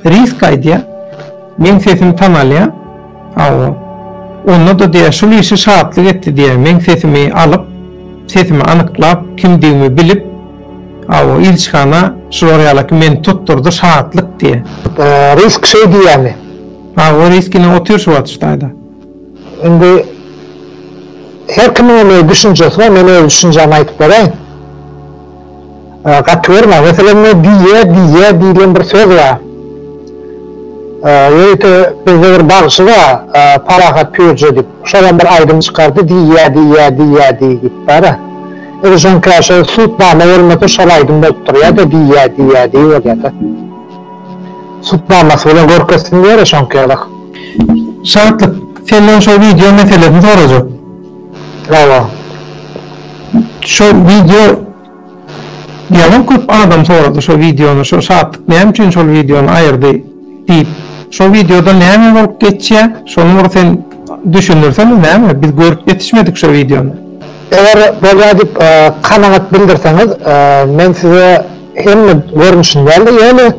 Risk aýdýar. Meň sesimi tanalýar. Hawa. Onda-da diýýär, şul işi Şatlyk etdi diýýär. Meň sesimi alyp, sesimi anyklap, kimdigimi bilip, hawa, ilçihana şular ýala ki meni tutdurdy Şatlyk diýýär. Risk şeý diýýärmi? Hawa, Risk ine otyr şu wagt şu taýda. Indi her kimiň hem öz düşünjesi bar, men öz düşünjämi aýdyp beraýyn. Gaty görme, meselem bu diýýe, diýýe diýlen bir söz bar. Ýörite bizde bir bagşy bar, Parahat Pürje diýip. Şolam bir aýdym çykardy, diýýe, diýýe, diýýe diý diýip bar-a. Edil şoňka şo Sutnama bolmasa şol aýdym bolup durýa-da, diýýe, diýýe diý bolýa-da. Sutnamasy bilen görkezsin diýer-ä şoňka ýaly. Şatlyk, senden şo wideo meselesini sorajak. Bravo. Şo wideo ýalam köp adam sorady şo wideony şo Şatlyk näme üçin şol wideony aýyrdy diýip. Şo wideoda näme bolup geçýä şony bir sen düşünirsene näme biz görüp ýetişmedik şo wideony. Eger bolýa diýip kanagat bildirseňiz men size hemme görnüşini dälde ýöne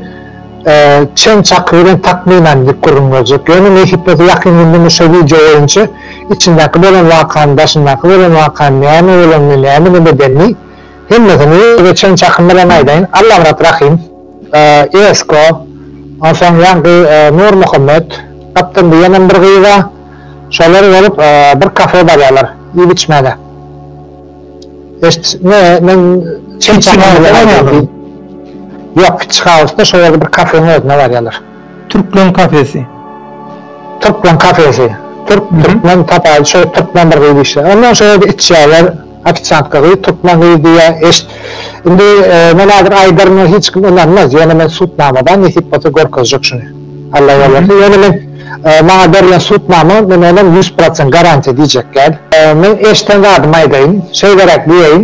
Çen çaky bilen takmynan dik gürrüň berjek. Ýöne nesipmese ýakyn günde men şo wideo boýunça içindäki bolan wakany, daşyndaky bolan wakany, näme bolanyny, näme nebedenini hemmesini size çen çakym bilen aýdaýyn. Allamyrat Rahym, Esko, onsoň ýaňky Nurmuhammet, gapdan diýenem bir gyz bar. Şolar bolup bir kafe barýarlar iýip-içmäge. Eşit, ne, men çeý içýän bilen aýdyldy. Ýok, kiçi hausda şo ýerde bir kafeň özüne barýalar. Türkleň kafesi. Türkleň kafesi. Türk, türkmen tapaýyl, şo türkmen bir gyz işleýär. Ondan şo ýerde içýärler, ofisiantka gyz, türkmen gyz diýýär. Eşit, indi, men häzir aýdaryn, hiç kim ynanmaz, ýöne men sudnamada, nesip bolsa görkezjek şuny. Allah ýalbarsyn ýöne men maňa berlen sudnama men onam ýüz prosent garantiýa diýjekgäl. Men eşden zadymy aýdaýyn, şeýleräk diýeýin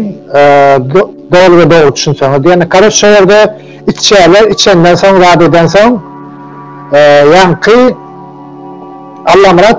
doly we dogry düşünseňiz diýende karoç şo ýerde içýärler içenden soň zat edensoň ýaňky Allamyrat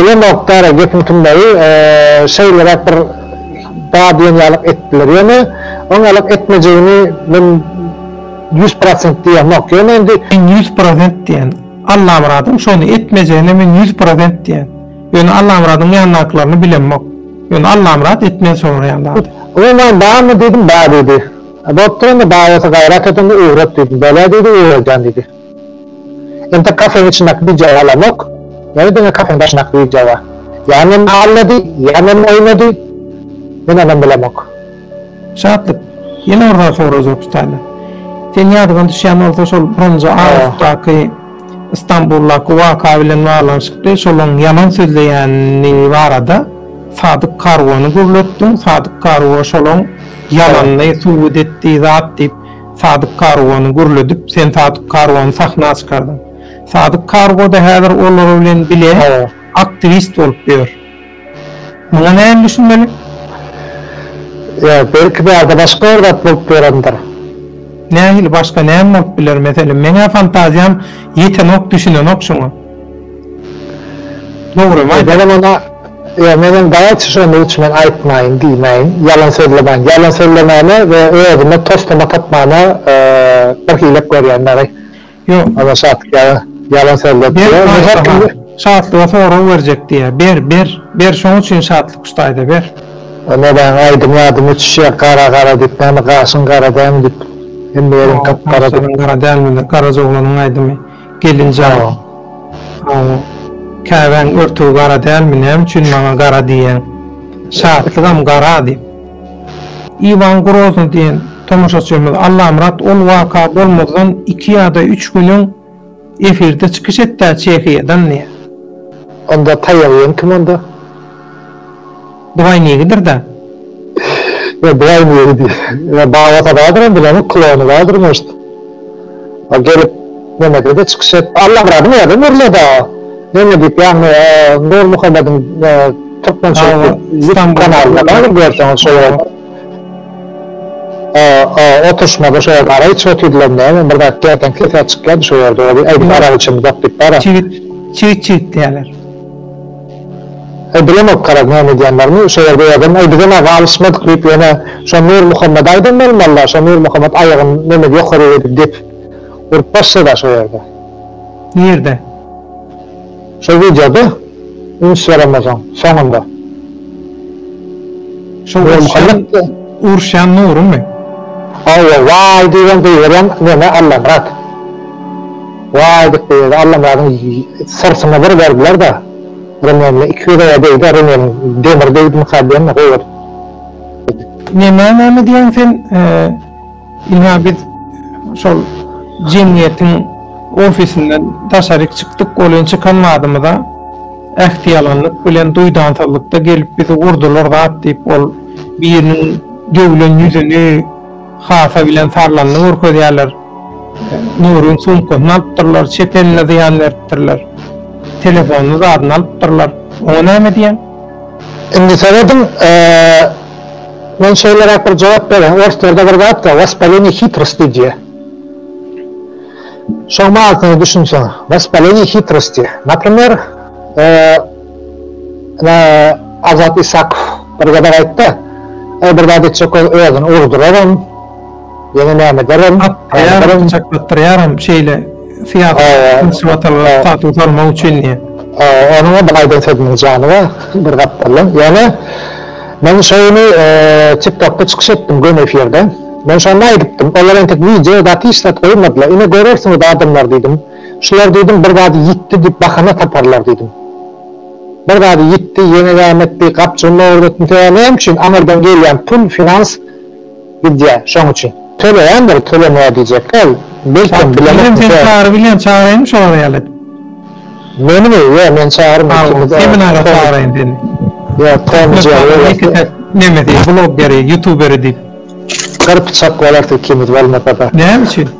Uly nokdara gepiň tümlegi şeýleräk bir ba diýen ýalyk etdiler. Ýöne oň ýalyk etmejegini men ýüz prosent diýemok. Ýöne indi. Men ýüz prosent diýen. Allamyradyň şony etmejegine men ýüz prosent diýen. Ýöne Allamyradyň ýandakylaryny bilemok. Ýöne Allamyrat etmeli soraýan zady. Umuman barmy diýdim, bar diýdi. Bopdur onda bar bolsa gaýrat et onda öwret diýdim. Bolýa diýdi öwredýän diýdi. Entek kafeň içindäki DJ galamok, ýöne diňe kafeň daşyndaky DJ bar. Ýa meni aldady, ýa meni oýnady, men onam bilemok. Şatlyk, ýene bir zat sorajak Hütäýne. Seň ýadyňa düşýän bolsa şol birinji awgustdaky Istanbuldaky waka bilen baglanyşykly şolaň ýalan sözleýäni barada Sadyk Karwany gürletdiň, Sadyk Karwo şolaň ýalanyny subut etdi zat diýip, Sadyk Kargony gürledip, sen Sadyk Kargony sahna çykardyň. Sadyk Kargo-da häzir olar bilen bile aktiwist bolup ýör. Muňa nähili düşünmeli? Ýa, belki bärde başga bir zat bolup ýörendir. Nähili başga näme bolup biler? Meselem, meň-ä fantaziýam ýetenok, düşünenok şoňa. Dogrymy aýt. Ejerem onda Ejerem daýa çyşygyny içmän aýtmaýyn diýmäýin. Ýalan sözlemäýin. Ýalan sözlemäne we özüme toslama tapmana bir hilek görýän dagy. Ýok. Ana şatlyk ýaly ýalan sözledi. Şatlyga sorag berjek diýýä. Ber, ber. Ber şoň üçin şatlyk usta aýda ber. Näme aýdym ýadyma düşýä gara gara diýip näme gaşyň gara dälmi diýip hemme ýeriň gap gara diýip. Gaşyň gara dälmi diýip garaja oglanyň aýdymy. Gelin jaba. A, käbäň örtügi gara dälmi, näme üçin maňa gara diýýäň? Şatlygam gara, diýip. Iwan Groznyý diýen tomaşaçymyz Allamyrat ol waka bolmazdan iki ýa-da üç gün öň efirde çykyş etdä Çehiýadan diýýär. Onda taýak iýen kim onda? Bugay negidir da. Ýa bugay negi diýýä. Ýa babasy bardyr hem bilemok klony bardyr может. A gelip nemesede çykyş et. Allam razy näden berileda neme diýip ýagny Nurmuhammediň türkmençilik ýutub kanalynda bardyr görseňiz şol ýerde. A oturşmada şo ýerde ara içip otyrdylamy näme men bir zat gerden sesä çykýady şo ýerde ol aýdyp arany içemizok diýip bara. Çigit çigit diýýäler. Aý bilemok garaz näme edýänlerini şo ýerde ýazan aý bizem aga alyşmadyk diýip ýöne şo Nurmuhammada aýdan bolmalylar şo Nurmuhammat aýagyny nemede ýokaryk edip depip urup başlada şo ýerde. Nirde? Şol wideoda üns beremozaň soňunda. Şo uruşýan Nurymy? Hawa waý diýibem goýberýän neme Allamyrat. Waý edip beýlede Allamyradyň syrtyna bir berdiler-de, remenine iki ýüzege degdi-ä remeniň, demir degdimikä diýen-de, goýberdi. Nemäň näme diýýäň sen, ynha biz şol jemgyýetiň ofisinden daşaryk çykdyk, ol ýene çykan badymyza ähtiýalanlyk bilen, duýdansyzlykda gelip bizi urdular zat diýip, ol biriniň döwlen ýüzüni, Hasa bilen Tarlanyny görkezýärler. Nuryň sumkasyny alypdyrlar, çep eline zyýan beripdirler. Telefonyny zadyny alypdyrlar. Oňa näme diýeň? Indi serediň, men şeýleräk bir jogap berýän. Orslarda bir zat bar, waspaleniýe hitrosti diýýär. Şoň manysyna düşünseň, waspaleniýe hitrosti. Naprimer, Ine, Azat Isakow bir gezek aýtdy, Eý, bir zat etjek bolup, özüni urduraram, ýene näme ederem, näme ederem. Atlaýaram, çaklatdyrýaram, şeýle syýasy watalga statusa salmak üçin diýen. Onuň-a bir aýdan sözüniň jany bar, bir gapdaldan. Ýöne men şo güni TikTokda çykyş etdim, göni efirde. Men şonda aýdypdym, olar entek wideo zat hiç zat goýmadylar. Ine görersiňiz adamlar diýdim. Şular diýdim bir zady ýitdi diýip bahana taparlar diýdim. Bir zady ýitdi, ýeňe gämetdi, gapjygyny ogryn etmseä näme üçin aňyrdan gelýän pul finans gidýä şoň üçin. Töleýändir tölemä diýjek däl belkem bilemokmyş ýa. Sen çagyryp bilýän çagyraýynmy şolara ýaly edip. Menimi ýa men çagyryn ikimiz de. Seminara çagyraýyn seni. Ýa Tomy Jerry. Nemesi bloggeri ýutuberi diýip. Gyr pyçak bolarys ikimiz bolmasada. Näme üçin.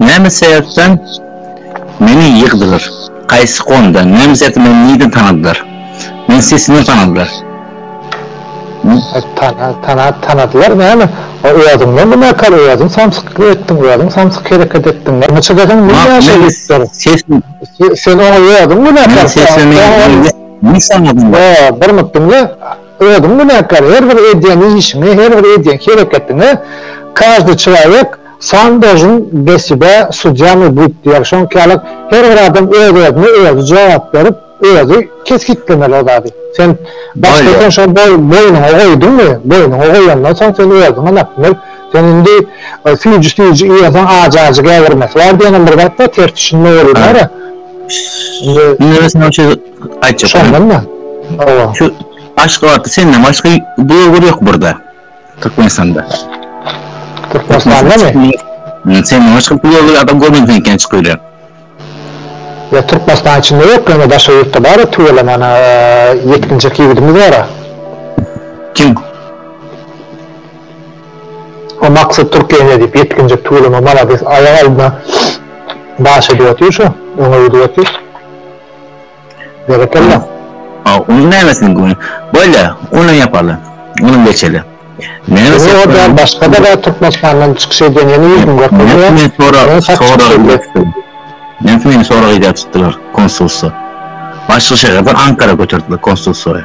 Näme sebäpden meni ýygdylar? Haýsy konda? Näme sebäpden meni nirden tanadylar? Meni sesinden tanadylar. Tanadylar näme? Owazyňdan binakar, owazyň samsyklyk etdiň, owazyň samsyk hereket etdiň. Näçe gezegem men näçe ýygdylar? Sen oňa owazyň binakar. Bir mut diňle, owazyň binakar. Her bir edýän işiňe, her bir edýän hereketiňe, každy çylaýek. Sandažyň beside sudýamy buýt diýer, şoňki ýalyk her bir adam öz-özüne özi jogap berip, özi kesgitlemeli o zady. Sen başda eken şony boýnuňa goýduňmy, boýnuňa goýandan soň sen özüňe nap bil. Sen indi süýji süýji iýersen ajy-ajy gägirmesi bar diýenem bir zat bar, ters düşünme bolýar-a. Indi Indi men saňa şeýdip aýtjak. Şondan-da. Hawa. Şu Aşgabatda senden başga bloger ýok burada. Türkmenistanda. Türkmenistanda mi? Sen maňa çykyp ýörler adam görmedim sen eken çykyp ýörler. Ýa Türkmenistan içinde ýok ýöne daşary ýurtda bar tüweleme ana ýetginjek ýigidimiz bara. Kim? O maksat Türkiýe ne diýip ýetginjek tüweleme malades aýak aldyna daş edip otyr şu öňe gidip otyr. Berekella. A unuň nämesini göni? Bolýa, uny ýapaly. Uny geçeli. Näme sebäpden? Ýok, ýa başga-da bar Türkmenistandan çykyş edýän ýene ýüzüň görkezýär. Men sorag, sorag beripdim. Men seni sorag edýär tutdular konsulsa. Başga şäherden Ankara göterdiler konsulsoýa.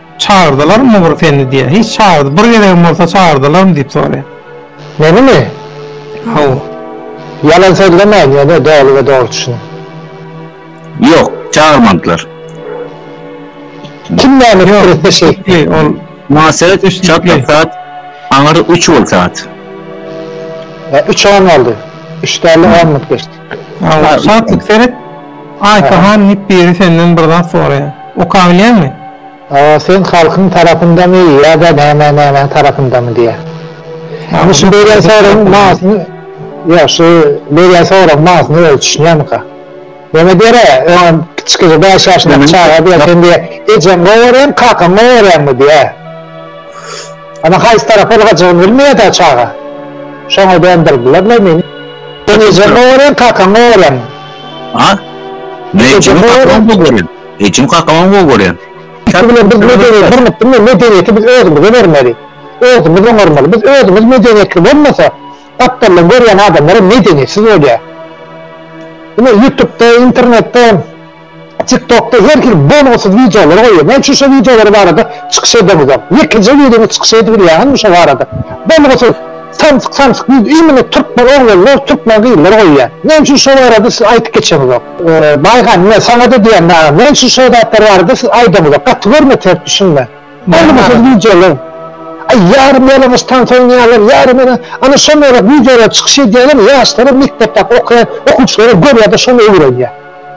Çagyrdylarmy bir seni diýýär. Hiç çagyrdy, bir gezegem bolsa çagyrdylarmy diýip soraýar. Menimi? Hawa. Ýalan sözlemäýin ýöne doly we dogry düşüniň. Ýok, çagyrmandylar. Kim näme pikir etse şeýtdi. Ol Maňa seret, çatlak saat, aňyr üç bol saat. Üç on boldy. Üç däl-de on minut geçdi. Alla şatlyk seret. Aýka han diýip biri senden bir zat soraýar. Okabilýäňmi? Awa sen halkyň tarapyndamy ýa-da näme nämäň tarapyndamy diýýär. Indi şu berýän soragyň manysyny ýok şu berýän soragyň manysyny özi düşünýärmika? Näme diýer-ä öňem kiçijik bäş ýaşyndaky çaga diýer sen diýer ejeň gowy görýäňmi kakaň gowy görýäňmi diýer. Ana haýsy tarap ylgajygyny bilmeýär-dä çaga. Şoňa gönderdiler-le meni. Sen ejeň gowaram, kakaň gowaram. A? Men ejem kakam gowy görýän. Ejem kakamam gowy görýän. Ýa bilen biz medeniýeti gurnup bilmeýäs. Medeniýeti biz özümize bermeli. Özümiz oňarmaly. Biz özümiz medeniýetli bolmasak, gapdaldan görýän adamlar hem medeniýetsiz bolýar. Ine ýutupda, internetde Tiktokda her kim bonussyz wideolar goýýar. Näme üçin şo wideolar barada çykyş edeňizok? Ýekeje wideoňyz çykyş edip bilýäňizmi şo barada? Bonussyz samsyk samsyk wideo imini türkmen oglanlar, türkmen gyzlar goýýar. Näme üçin şo barada siz aýdyp geçeňizok? Baýhan, men saňa-da diýen dagy, näme üçin şo zatlar barada siz aýdaňyzok? Gaty görmeseňiz düşünme. Boldy bu söz wideolar. Aý ýarym ýalaňaç tans oýnaýarlar, ýarym ýa ana şon ýaly wideolar çykyş edýärler, ýaşlara mekdepdäki okaýan okuwçylara görýärde şony öwrenýär.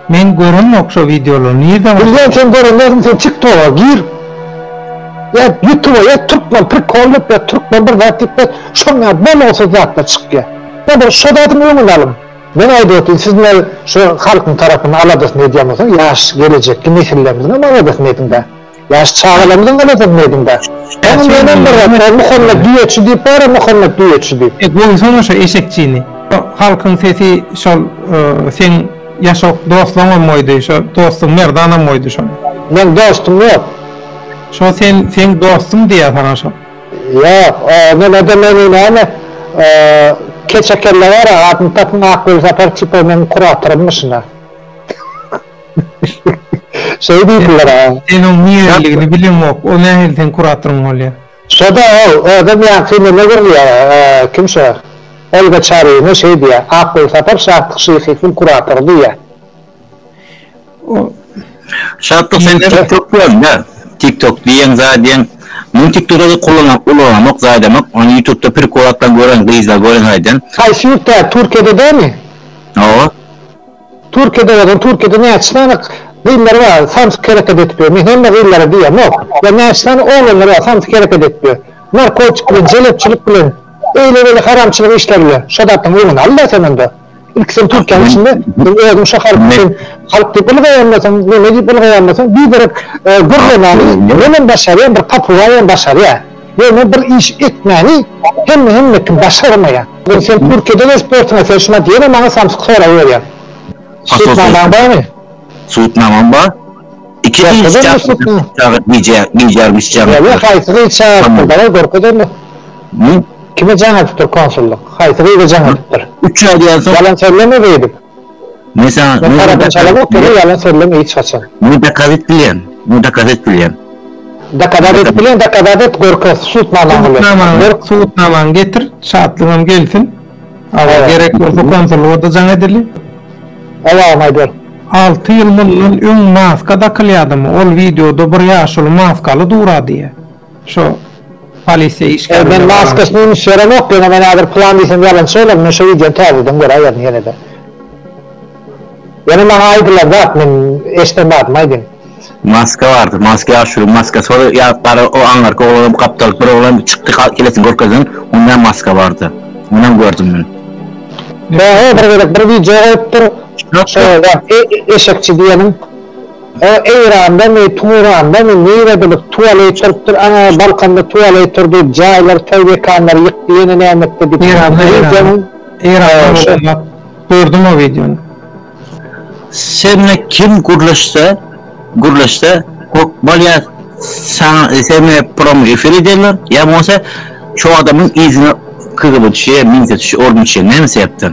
Men göremok şo wideolary nirden goşýar. Bilýän sen gören dälsiň sen tik toga gir ýa ýutuba ýaz türkmen prikol diýip ýa türkmen bir zat diýip ýaz şonda bolgusyz zatlar çykýar ýa bir şo zadyň öňüni alyň men aýdyp otyryn siz näme şo halkyň tarapyny aladasyny edýän bolsaň ýaş gelejekki nesillerimiziňem aladasyny ediňdä. Ýaş çagalarymyzyň garasyny nädiňda? Ýa sen menem bir zat bar Muhammet düýeçi diýip bar-a Muhammet düýeçi diýip. E goýsana şo eşekçini. Halkyň sesi şol seň ýaşok doslaňam goýdy şo dostuň Merdanam goýdy şony. Meň dostum ýok. Şo sen seň dostuň diýýä saňa şo. Ýok o nelede meni näme keçe kelle bara adyny tapyň Akgulsapar tipow meň kuratorym myşyna. Şeý diýdiler-ä. Sen oň nireliligini bileňok, o nähili seň kuratoryň bolýa? Şo-da ol, özem ýa filime gürlýär, kim şo, Olga Çaryýewna şeý diýýär, Akgulsapar Şatlyk Şyhyýewiň kuratory diýýär. O. Şatlyk sen näme topýaň dä? Tik tok diýen zadýeň, men tik togy kullanamok, ulanamok, zadýamok, ony ýutubda prikolatdan gören gyzlar gören zadýan. Haýsy ýurtda, Türkiýede dämi? Hawa. Türkiýede bolsaň Türkiýede näçe sany gyzlar bar samsyk hereket edip ýör men hemme gyzlara diýemok ýa näçe sany oglanlar bar samsyk hereket edip ýör narkotik bilen jelepçilik bilen eýle beýle haramçylyk işler bilen şo zatlaň öňüni alda sen onda ilki sen Türkiýäň içinde sen özüň şo halk üçin halk diýip ylgaýandasyň neme diýip ylgaýandasyň biderek gürlemani menem başarýan bir papugaýam başarýa. Ýöne bir iş etmäni hemme hemme kim başarmaýar. Indi sen Türkiýede we sportuňa serçme at ýene maňa samsyk sorag berýäň. Sutnamaň barmy? Sutnamam bar. Iki gyz çaga gije gijäm isjäm. Ýöne haýsy gyz çagyrtdy bala görke dönme. Kime jaň atypdyr konsullyk? Haýsy gyza jaň atypdyr? Üç aý diýen soň. Ýalan söyleme beýdip. Sen tarapyny çalap otur, ýalan sözleme hiç haçan. Muny dokaz et bilýän, muny dokaz et bilýän. Dokazat et bilýän, dokazat et, görkez subutnamaň bilen. Berk subutnamaňy getir, Şatlygam gelsin. Awa, gerek bolsa konsulluga-da jaň edeli. Owagam aýdar. Alty ýyl mundan öň maska dakylýadymy, ol wideoda bir ýaşuly maskaly durady ýa. Şo polisiýa işgäri bilen baglanyşykly. Elden maskasyny üns berenok ýöne men häzir plan diýsem ýalançy bolaryn men şo wideony täzeden göräýerin ýenede. Ýöne maňa aýdylan zat men eşden badym aýdym. Maska bardy maska ýaşulyň maskasy ol ýa gara o aňyrky oglanam gapdalyk bir oglan çykdy kelesini görkezdiň onda maska bardy onam gördüm men. He he bir gezek bir wideo goýupdyr şo eşekçi diýeniň. O Eýrandamy, Turandamy, nirededir tuwaleý çyrpdyr, aňa Balkanda tuwaleý tur diýip jaýlary, toý mekanlary ýykdy, ýene näme etdi diýip. Eýranda, Eýranda. Eýranda bolsa ýok. Gördüm o wideony. Sende kim gürleşse, gürleşse hökman ýa saňa seni promo efir ederler, ýa bolmasa şo adamyň yzyna kgb-çiye, milisiýa, orunbasşiýa näme sebäpden?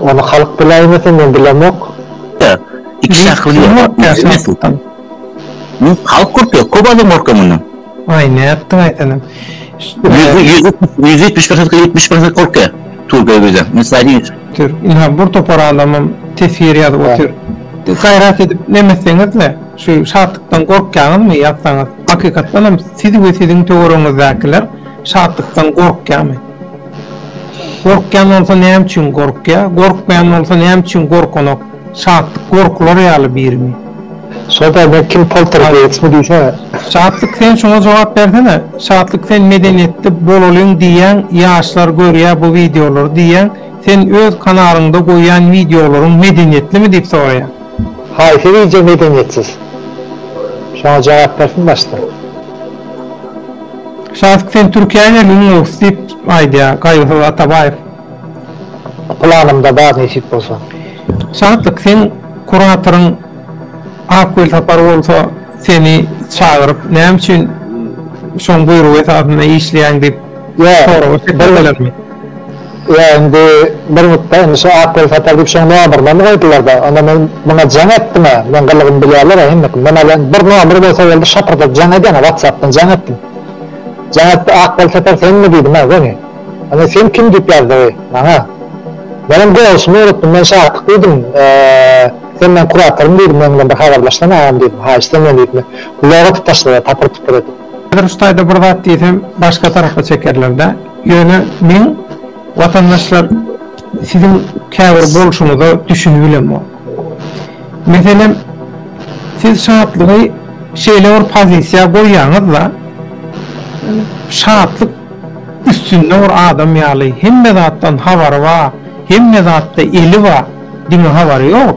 Ony halk biläýmese men bilemok. Iki şahsy bilýär. Halk gorkýar, köp adam gorkýar mundan. Aý nätdiň aý senem. Ýüz ýetmiş bir sany ýetmiş bir sany gorkýar. Türkiýe bize. Mysal diýip. Ýa bir topar adamam teswir ýazyp otyr. Gaýrat edip neme etseňizle şu şatlykdan gorkýaňyzmy ýazsaňyz. Hakykatdanam siz we siziň töweregiňizdäkiler şatlykdan gorkýarmy? Gorkýan bolsa näme üçin gorkýa, gorkmaýan bolsa näme üçin gorkanok, şatlyk gorkular ýaly birimi? Şol taýdan kim poltergeýstmi diýsene. Şatlyk sen şuňa jogap bersene Şatlyk sen medeniýetli bolalyň diýýäň ýaşlar görýä bu wideolary diýýäň sen öz kanalyňda goýýan wideolaryň medeniýetlimi diýip soraýan. Haýsy wideo medeniýetsiz? Şoňa jogap bersin başda. Şahyk sen Türkiýä gelgin gows diýip aýdýar Gaýgysyz Atabaýew. Planymda bar nesip bolsa. Şatlyk seň kuratoryň Ak Welsapar bolsa seni çagyryp näme üçin şoň buýrugy esasynda işleýäň diýip soraga çekmedilermi? Ýa indi bir mutda indi şu ak gül satar diýip şoň nomuryny goýdular-da, onda men muňa jaň etdim-ä, meň gylygymy bilýärler-ä hemme kim, men alýan bir nomer bolsa boldy, şapyrdadyp jaň edýän-ä, watsapdan jaň etdim. Jaň etdi, ak gül satar senmi diýdim-ä, göni. Onda sen kim diýip ýazdygy maňa. Menem goňşymy unutdym, men Şakyk diýdim, sen meň kuratorym diýdim, meň bilen bir habarlaşsana agam diýdim, haýyş senmi diýdim, gulaga tutyşdylar tapyr-tupur edip. Häzir şu taýda bir zat diýsem başga tarapa çekerlerdä. Ýöne men watandaşlar siziň käbir bolşuňyza düşünip bilemok. Meselem siz şatlygy şeýle bir pozisiýa goýýaňyzda şatlyk üstünde bir adam ýaly hemme zatdan habary bar, hemme zatda eli bar diňe habary ýok.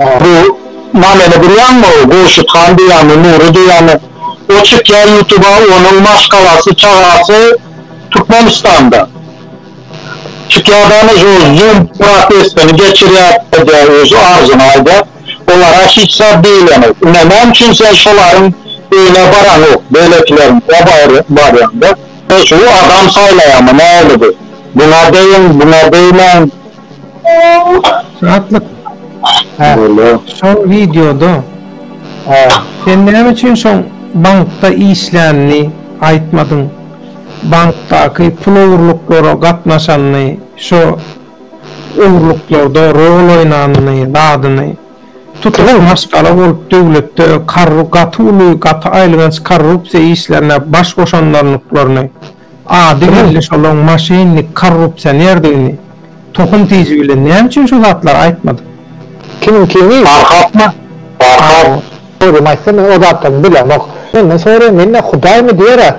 Bu nameni bilýäňmi? Gurşut han diýýämi, Nury diýýämi? O çykýa ýutuba, onuň maşgalasy, çagasy Türkmenistanda. Çykýa dana şu zoom protestini geçirýä edýä öz arzyny aýdýa. Olara hiç zat diýileni. Ine näme üçin sen şolaryň öýüne baraňok, beýlekileriň o barýaňda. Şu adam saýlaýamy näyligi? Buňa deýiň, buňa deýmäň. Atlyk. Hä. Şol wideoda Hä. Sen näme üçin şoň bankda işlänini aýtmadyň? Bankdaky pul ogurluklara gatnaşanyny, şo ogurluklarda rol oýnanyny, zadyny. Tutuş maşgala bolup döwletde korru gaty uly, gaty aýylganç korrupsiýa işlerine baş goşanlarnyklaryny. Ady belli şolaň maşennik korrupsionerdigini tohum tiji bilen näme üçin şu zatlary aýtmadyk. Kimiň kini? Farhatmy? Farhat. Dogrymy aýtsam men o zatlaryny bilemok. Menden soraýan mende hudaýmy diýera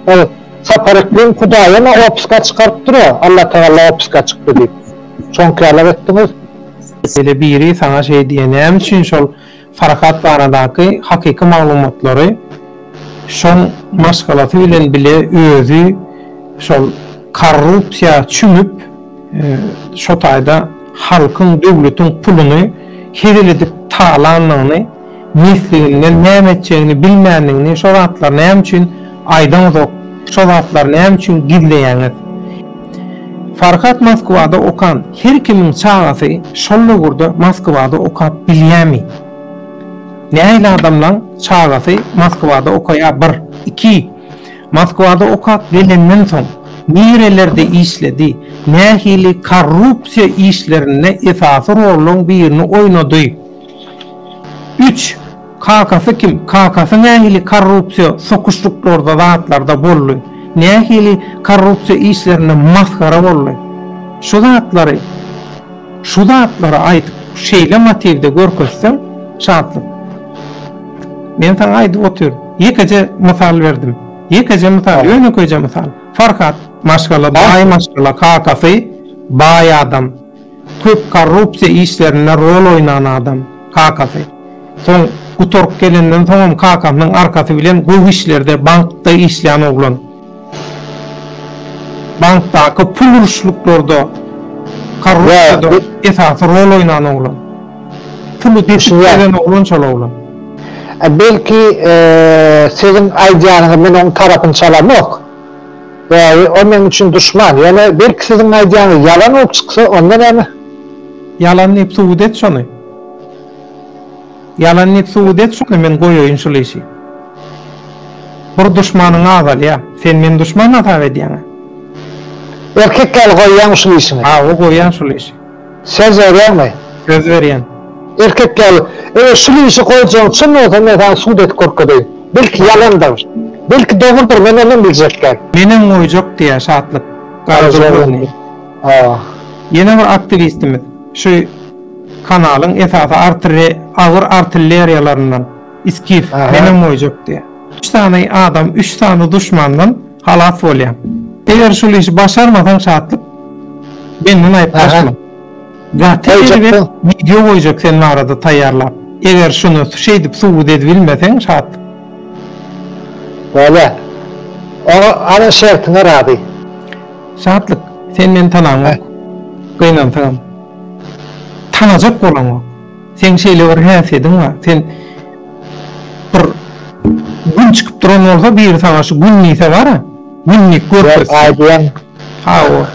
ol Sapar Ekleň hudaýymy opiska çykaryp dura Allatagalla opiska çykdy diýip. Şoňky ýalak etdiňiz. Ýöne biri saňa şeý diýä näme üçin şol Farhat baradaky hakyky maglumatlary şoň maşgalasy bilen bile özi şol korrupsiýa çümüp şo taýda halkyň döwletiň puluny hezil edip talandygyny mesliginden näme etjegini bilmändigini şo zatlar näme üçin Aýdaňyzok, şo zatlary näme üçin gizleýäňiz? Farhat Moskwada okan her kimiň çagasy şol döwürde Moskwada okap bilýämi? Nähili adamlaň çagasy Moskwada okaýa bir, iki, Moskwada okap gelenden soň nirelerde işledi, nähili korrupsiýa işlerinde esasy rollaň birini oýnady? Üç, Kakasy kim? Kakasy nähili korrupsiýa sokuşlyklarda zatlarda boldy? Nähili korrupsiýa işlerinde masgara boldy? Şu zatlary şu zatlary aýdyp şeýle motiwde görkezseň Şatlyk men saňa aýdyp otyr ýekeje mysal berdim ýekeje mysal ýönekeýje mysal Farhat maşgala baý maşgala kakasy baý adam. Köp korrupsiýa işlerinde rol oýnan adam, kakasy. Soň gutaryp gelenden soňam kakasynyň arkasy bilen gowy işlerde bankda işleýän oglan. Bankdaky pul uruşluklarda korrupsiýada esasy rol oýnan oglan. Puly depip gelen oglan şol oglan. Belki siziň aýdýanyňyz men oň tarapyny çalamok. Bäý, o meň üçin duşman. Ýöne belki siziň aýdýanyz ýalan bolup çyksa, onda näme? Ýalan diýip subut et şony. Ýalan diýip subut et şony, men goýaýyn şul işi. Bir duşmanyň azalýa. Sen meni duşman hasap edýäň-ä. Erkek ýaly goýýaňmy şul işiňi? Hawa, goýýan şul işi. Söz berýäňmi? Söz berýän. Erkek ýaly, Eger şul işi goýjagyň çyn bolsa, men saňa sud edip görkezeýin. Belki ýalandyr. Belki dogrudyr, men ondan biljek däl. Menem goýjak, diýýär Şatlyk garjylgyny. Ýene bir aktiwistimiz, şu kanalyň esasy agyr artilleriýalaryndan Skif, menem goýjak diýýär. Üç sany adam, üç sany duşmandan Halas bolýaň. Eger şul işi başarmasaň Şatlyk, menden aýyplaşma. Gaty erbet wideo goýjak sen barada taýýarlap. Eger şuny şeýdip subut edibilmeseň Şatlyk. Bolýa. Oňa ana şertiňe razy. Şatlyk, sen meni tanaňok. Gynansaňam. Tanajak bolaňok. Seň şeýle bir häsiýediň bar, sen bir Gün çykyp duran bolsa biri saňa şu Gün diýse bara, Günlik görkezse. Ýok, Aý diýen. Hawa.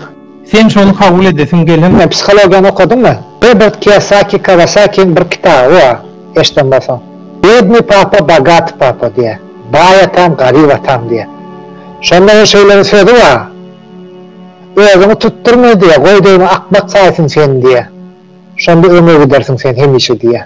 Sen şony kabul edesiň gelen. Sen psihologiýany okadyňmy? Robert Kiyosaki Kawasakiniň bir kitaby bar, eşiden bolsaň. Biedny papa, bogatý papa diýýär. Baý atam, garyp atam diýýär. Şonda ol şeýle bir sözi bar. Özüňi tutdurma diýýär, goý deýin akmak saýsyn seni diýýär. Şonda öňe gidersiň sen hemişe diýýär.